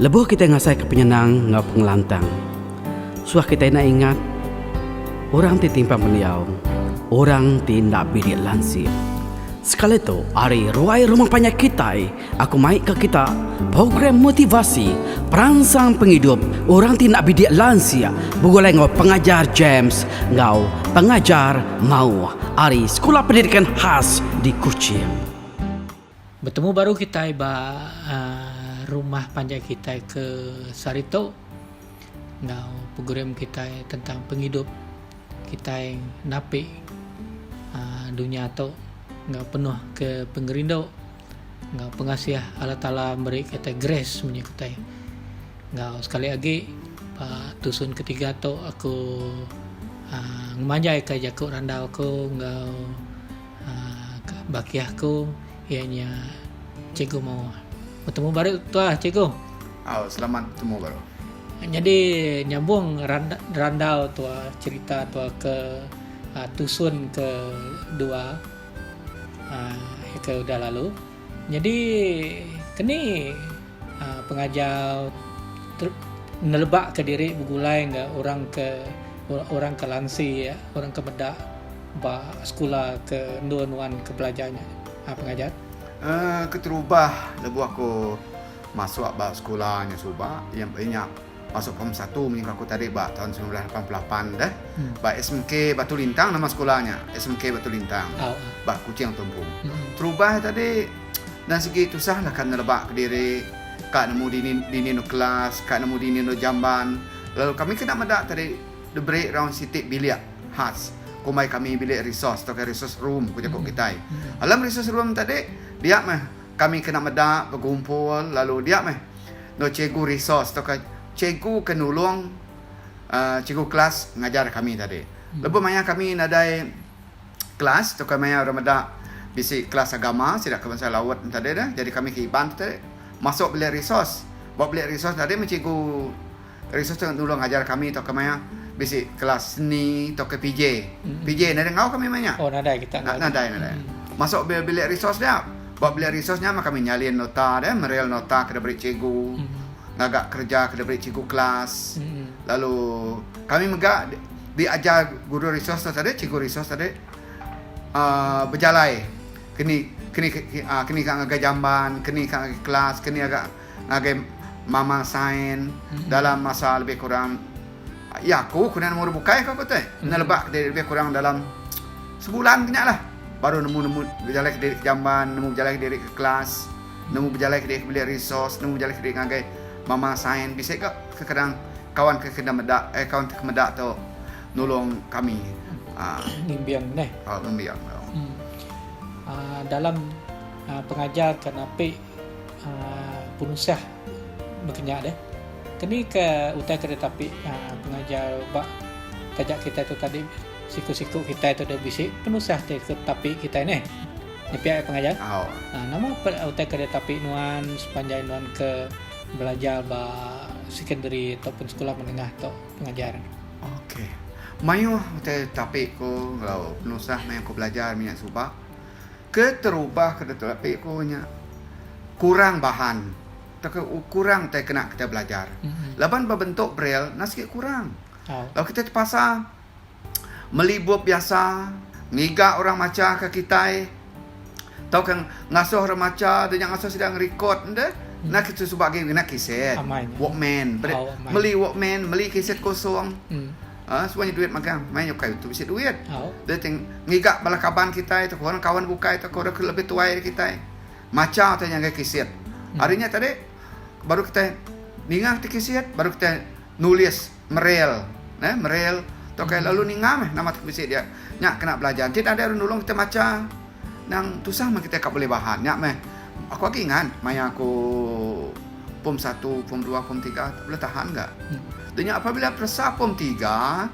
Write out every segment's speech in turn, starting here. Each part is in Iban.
Lebuh kitai ngasaika penyenang enggau pengelantang, suah kitai enda ingat orang ti timpang pendiau, orang ti enda bilik lansik. Sekali tu, ari ruai rumah panjai kitai, aku mai ke kita program motivasi peransang pengidup orang ti enda bilik lansik begulai enggau Pengajar James enggau Pengajar Mauh ari Sekula Pendidikan Khas di Kuching. Betemu baru kitai ba rumah panjai kitai ke sehari tu enggau program kitai tentang pengidup kitai napi dunya tu enggau penuh ke pengerindu enggau pengasih Allah Taala meri kitai grace menyii kitai. Enggau sekali agi ba tusun ke tiga tu aku ngemanjai ka jaku randau aku enggau Baki aku iya nya cikgu mau betemu baru tuah cikgu. Oh, selamat betemu baru. Jadi nyambung randau tua cerita tua ke uh, tusun ke dua uh, ke udah lalu. Nyadi keni pengajar nelebaka diri begulai enggau orang ke orang ke lansi orang ke meda ba sekula ke endur nuan ke belajar nya pengajar? Keterubah lebuh aku masuk ba sekula nya suba iya nya Masuk pom satu menyuh aku tadi ba taun seribu semilan lapan puluh lapan deh ba SMK Batu Lintang nama sekolah nya SMK Batu Lintang ba Kuching Tumpu. Terubah tadi nan sigi tusah lah ka neleba kediri ka nemu dini dini endur kelas ka nemu dini endur jamban lalu kami kena meda tadi diberi raun siti bilik khas kombai kami bilik resource tauka resource room ku jaku kitai. Alam resource room tadi dia meh Kami kena meda begumpul lalu dia meh enggau cikgu resource tauka cikgu ke nulung cikgu kelas ngajar kami tadi. Lebuh maya kami nadai kelas tauka maya orang meda bisi kelas agama sida ke bansa Laut tadi tu jadi kami ke Iban tadi masuk bilik resource. Ba bilik resource tadi meh cikgu Resource tu nulung ngajar kami tauka maya bisi kelas seni tauka PJ. PJ nadai enggau kami maya nya. Oh nadai kita enggau. Nadai nadai. Hmm. Masuk bil bilik resource dia. Ba bilik resource nya mah kami nyalin nota dia, meril nota ke diberi cikgu. Hmm. Ngaga kereja ke diberi cikgu kelas. Hmm. Lalu kami mega diajar guru resource tu tadi, cikgu resource tadi uh, bejalai kini kini uh, kini ka ngagai jamban, kini ka ngagai kelas, kini agak ngagai mama sign dalam masa lebih kurang iya aku kena nemu orang bukai aku tu neleba ke lebih kurang dalam sebulan ke nya lah baru nemu nemu bejalai ke diri ke jamban nemu bejalai ke diri ke kelas nemu bejalai ke diri ke beli resource nemu bejalai ke diri ngagai mama sign bisi ka kekadang kawan ke kena meda eh kawan ke meda tu nulung kami um ngembiang neh um ngembiang tu um dalam pengajar ke napi Penusah bekenya deh. Keni ke utai tu ditapi pengajar ba taja kitai tu tadi siku-siku kitai tu deh bisi penusah ti ke tapi kitai neh. Nepia iya pengajar. Nama peda utai ke ditapi nuan sepanjai nuan ke belajar ba sekondari ataupun sekolah menengah tu pengajar. Okey. Mayuh utai tapi ku enggau penusah maya ku belajar menya suba. Keterubah ke ditu api ku nya kurang bahan tauka kurang utai kena kitai belajar laban ba bentuk braille enda sigi kurang. Lalu kitai tepasa meli bup biasa ngiga orang macha ke kitai tauka ngasuh orang macha deh nya ngasuh sida ngerecord deh enda kitai suba agi ngena keset walkman meli walkman meli keset kosong Haa suba nya duit magang mai nyukai utuh bisi duit. Dia teng ngiga bala kaban kitai tau orang kawan bukai tau orang lebih tuai dari kitai. Macha utai ngagai kisit. Hmm. Hari nya tadi baru kitai ninga ti kisit baru kitai nulis merel eh merel tau kai lalu ninga meh nama ti bisi dia. Nya kena belajar. Ti nadai orang nulung kitai macha. Nang tusah meh kitai ka bulih bahan nya meh. Aku agi ingat maya aku pom satu, pom dua, pom tiga tu bulih tahan ga. Da nya apabila peresa pom tiga,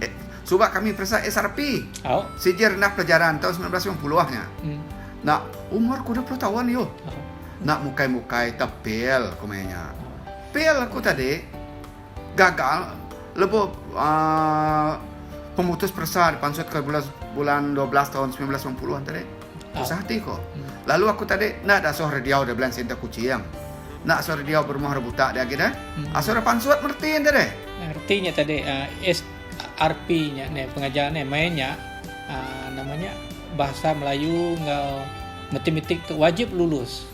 eh, suba kami peresa SRP, Sijil Rendah Pelajaran, taun semilan belas lima puluh nya. Enda, umur ku dua puluh taun ayuh. Enda mukai-mukai tepil ku maya nya. Pil aku tadi. gagal lebuh aaa pemutus peresa dipansut ke bulan bulan dua belas taun semilan belas lapan puluh tadi. Tusah ati ko. Lalu aku tadi enda ada soh rediau da Blank Center Kuching. Enda soh rediau berumah ra buta dia agi deh. Asoh ra pansut mereti enti deh. Reti nya tadi uh, SRP nya ne pengajar ne mai nya uh, nama nya bahasa Melayu enggau matematik tu wajib lulus.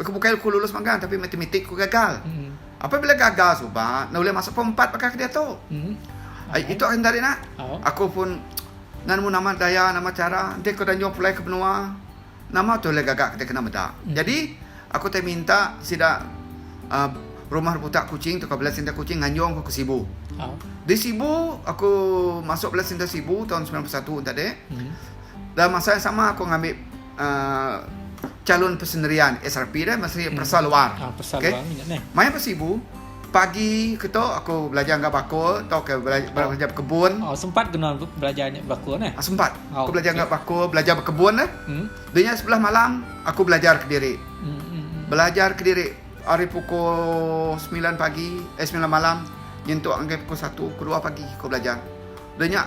Aku bukai aku lulus magang tapi matematik aku gagal. Apabila gagal suba enda ulih masuk form 4 baka kediatu. Ai itu akan dari nak. Aku pun nan mu nama daya nama cara enti aku dah nyuah pulai ke menua nama tu ulih gaga kita kena meda. Jadi aku tai minta sida uhh rumah rebutak Kuching tu ka Belas Center Kuching nganjung aku ke Sibu. Di Sibu aku masuk Belas Center Sibu taun semilan puluh satu enti ade. Dalam masa yang sama aku ngambi. chalun pesenerian SRP dah mesri peresa luar. Ha, peresa okay. luar minyak ni. Maya besi ibu, pagi ke tu aku belajar enggak bakul atau ke belajar, oh. belajar berkebun. Oh, sempat kena belajar enggak bakul ni? Ha, sempat. Oh, aku belajar enggak okay. bakul, belajar berkebun lah. Hmm. Dunia sebelah malam, aku belajar ke diri. Hmm, hmm, hmm. Belajar ke diri hari pukul 9 pagi, eh 9 malam, nyentuk anggai pukul 1, kedua pagi aku belajar. Dunia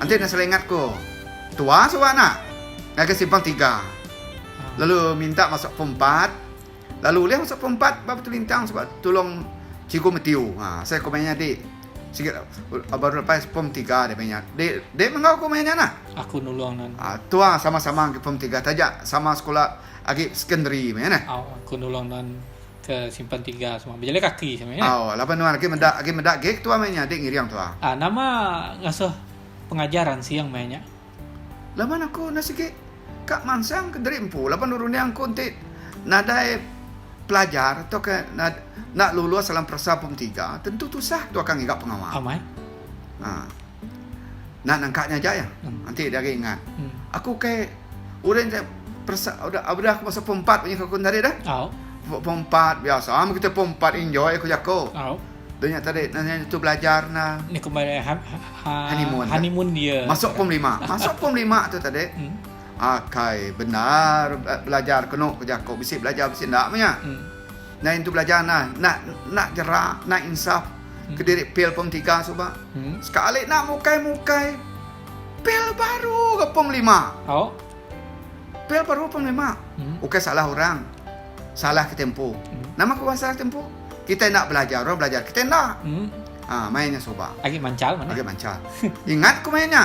Enti enda selai ingat ko. Tua suba anak ngagai simpang tiga lalu minta masuk form empat lalu ulih masuk form empat ba Batu Lintang suba tulong Cikgu Mathew. Ha asai ko maya nya dik sigi baru lepas form tiga deh maya nya. Dik dik menggau ko maya nya nah. Aku nulong nan. Ha tua sama-sama agi form tiga taja sama sekula agi sekondari meh neh. Au aku nulong nan. ke simpan tiga semua bejala kaki sebenarnya. Kan? Oh, laban nuan agi meda agi meda gig tuan mai nya dik ngiring tuan. Ah, nama ngasuh pengajar ansing mai nya. Laban aku na sikit ka mansang ke deri empu laban urun yang ku enti nadai pelajar atau ke na, nak lulus dalam perasa pemetiga tentu tusah tu akan ngiga pengawa. Amai. Ha. Nan engka nya aja iya. Enti dia agi ngat. Aku ke urang ke peresa udah udah aku masa pempat punya aku tadi dah. Au. Pempat biasa am kita pempat enjoy aku jako. Au. Dunya tadi nanya tu belajar na. Ni kembali ha, ha, ha, honeymoon. Honeymoon dia. Masuk pom lima. Masuk pom lima tu tadi. Hmm. Akai benar eh, belajar kenu aku jako bisi belajar bisi ndak punya. Hmm. Nai intu belajar nai nak nak jera nak insaf kediri pil pom tiga suba sekali nak mukai mukai pil baru ga pom lima pil baru pom lima ukai salah orang salah kita empu nama ku salah kita empu kita enda belajar orang belajar kita enda main nya suba agi mancal ingat ku main nya.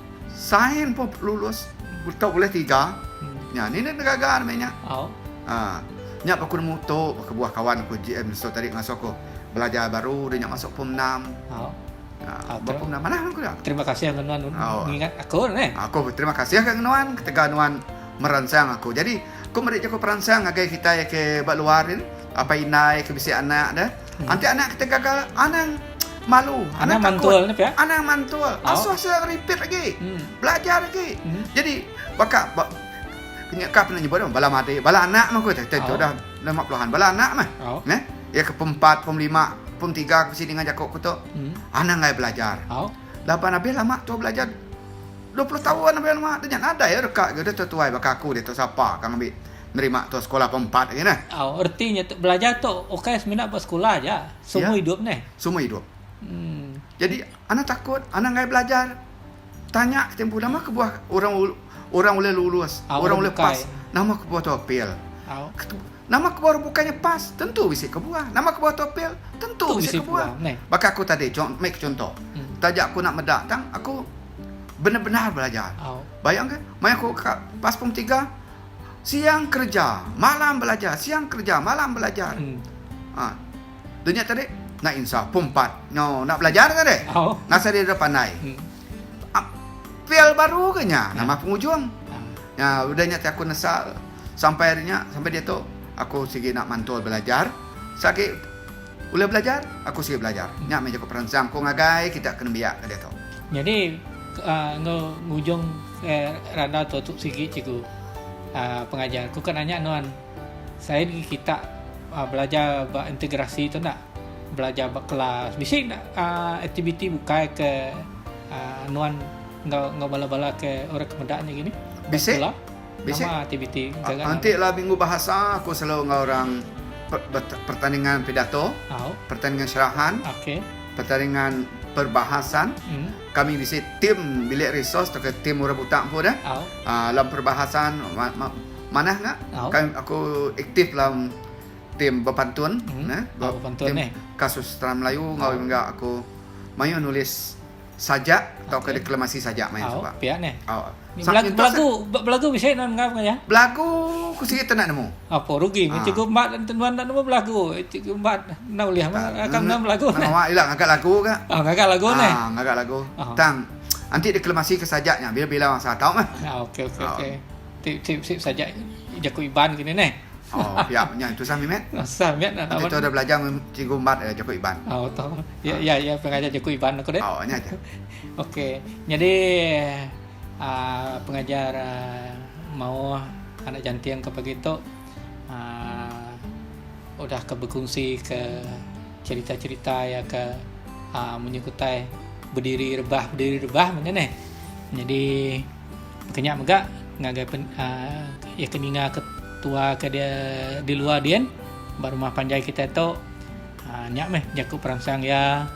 Sign pun lulus tau ulih tiga. Nya ni nit gaga meh nya. Ha. Nya pa aku nemu tu kebuah kawan aku GM so tadi ngasuh aku belajar baru dah nya masuk form enam. Ha. Ba form enam manah aku dah. Terima kasih ngan nuan ngingat aku neh. Aku terima kasih ngan nuan ketegal nuan meransang aku. Jadi aku meri jaku peransang ngagai kitai ke ba luar ni apai indai ke bisi anak deh. Enti anak kita gaga anang malu, anang, anang takut, mantul, ya? anang mantul, oh. asuh sila repeat lagi, hmm. belajar lagi. Hmm. Jadi baka ba, punya kap nak nyebut bala mati, bala anak mah kau tak oh. dah lima puluhan, bala anak mah, oh. ne? Ya ke pempat, pemlima, pemtiga ke sini dengan jaku aku tu, hmm. anang ngai belajar. Oh. Lapan habis lama tu belajar 20 tahun apa nama tanya ada ya dekat ke dia tertuai baka aku dia tu siapa kang ambil nerima tu sekolah pom empat agi neh. Au reti nya tu belajar tu ukai semina ba sekolah aja semua idup neh. Semua idup. Um. Jadi anak takut anak enggai belajar tanya ti empu nama kebuah orang orang ulih lulus au orang ulih pas nama kebuah tu apel. Au. Nama kebuah orang bukai nya pas tentu bisi kebuah nama kebuah tu apel tentu tu bisi kebuah. kebuah. Baka aku tadi mai ke chunto um. Taja aku enda meda tang aku benar-benar belajar. Au. Bayangka mai aku ka pas pom tiga. siang kereja, malam belajar, siang kereja, malam belajar. Hmm. Ha. Dunia tadi nak insaf pom 4. No, nak belajar tadi. Oh. Ngasai dia pandai. Hmm. Ah, fail baru ke nya? Nama hmm. pengujung? Hmm. Ya, udah nya aku nesal sampai hari nya, sampai dia tu aku sigi nak mantul belajar. Sagi Ulih belajar? Aku sigi belajar. Nya meh jaku peransang aku ngagai kita ke nembiak ke diatu. Nyadi enggau ngujung randau tu tu sigi cikgu pengajar. Ku ka nanya nuan saya negi kita belajar ba integrasi tu enda? Belajar ba kelas bisi enda aktiviti bukai ke nuan enggau bala-bala ke orang ke meda nya gini? Bisi. Bisi anti lah minggu bahasa aku selalu enggau orang pertandingan pidato, pertandingan syarahan, pertandingan perbahasan. Kami bisi tim bilik resource tauka tim orang buta empu deh. Dalam perbahasan manah nya aku aktif dalam tim bepantun, tim kasustrah melayu enggau mega aku mayuh nulis. sajak tauka deklamasi sajak maya suba. Au, pia neh. Au. Ni belagu belagu, belagu bisi nuan enggau ngaja? Belagu ku sigi tenda nemu. Apo rugi meh cikgu embat enti nuan enda nemu belagu. Cikgu embat enda ulih meh akan nuan belagu. Nang awak ila ngaga lagu ga. Oh, ngaga lagu neh. Ah, ngaga lagu. Tang anti deklamasi ke sajak nya bila-bila masa tau meh. Okey okey okey. Tip tip tip sajak jaku Iban kini neh. Oh, pia nya tusah mimet. Tusah mimet nak tahu. Kita dah belajar dengan cikgu Mat eh, jaku Iban. Oh, tahu. Ya, ya, ya, pengajar jaku Iban aku deh. Oh, nya aja. Okey. Jadi uh, pengajar uh, mau anak janting ke pagi tu uh, udah ke berkongsi ke cerita-cerita ya ke uh, menyukutai berdiri rebah berdiri rebah mana ni jadi Ke nya mega ngagai pen, uh, iya ke ninga ke tua ke dia di luar din ba rumah panjai kita tu. Uh, nya meh jaku peransang iya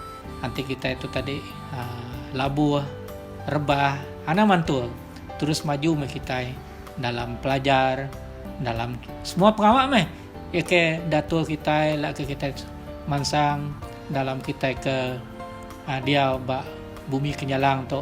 anti kita tu tadi uh, labuh, rebah, anang mantul. Terus maju meh kita dalam pelajar, dalam semua pengawa meh. Iya ke datul kita la ke kita mansang dalam kita ke uh, diau ba bumi Kenyalang tu.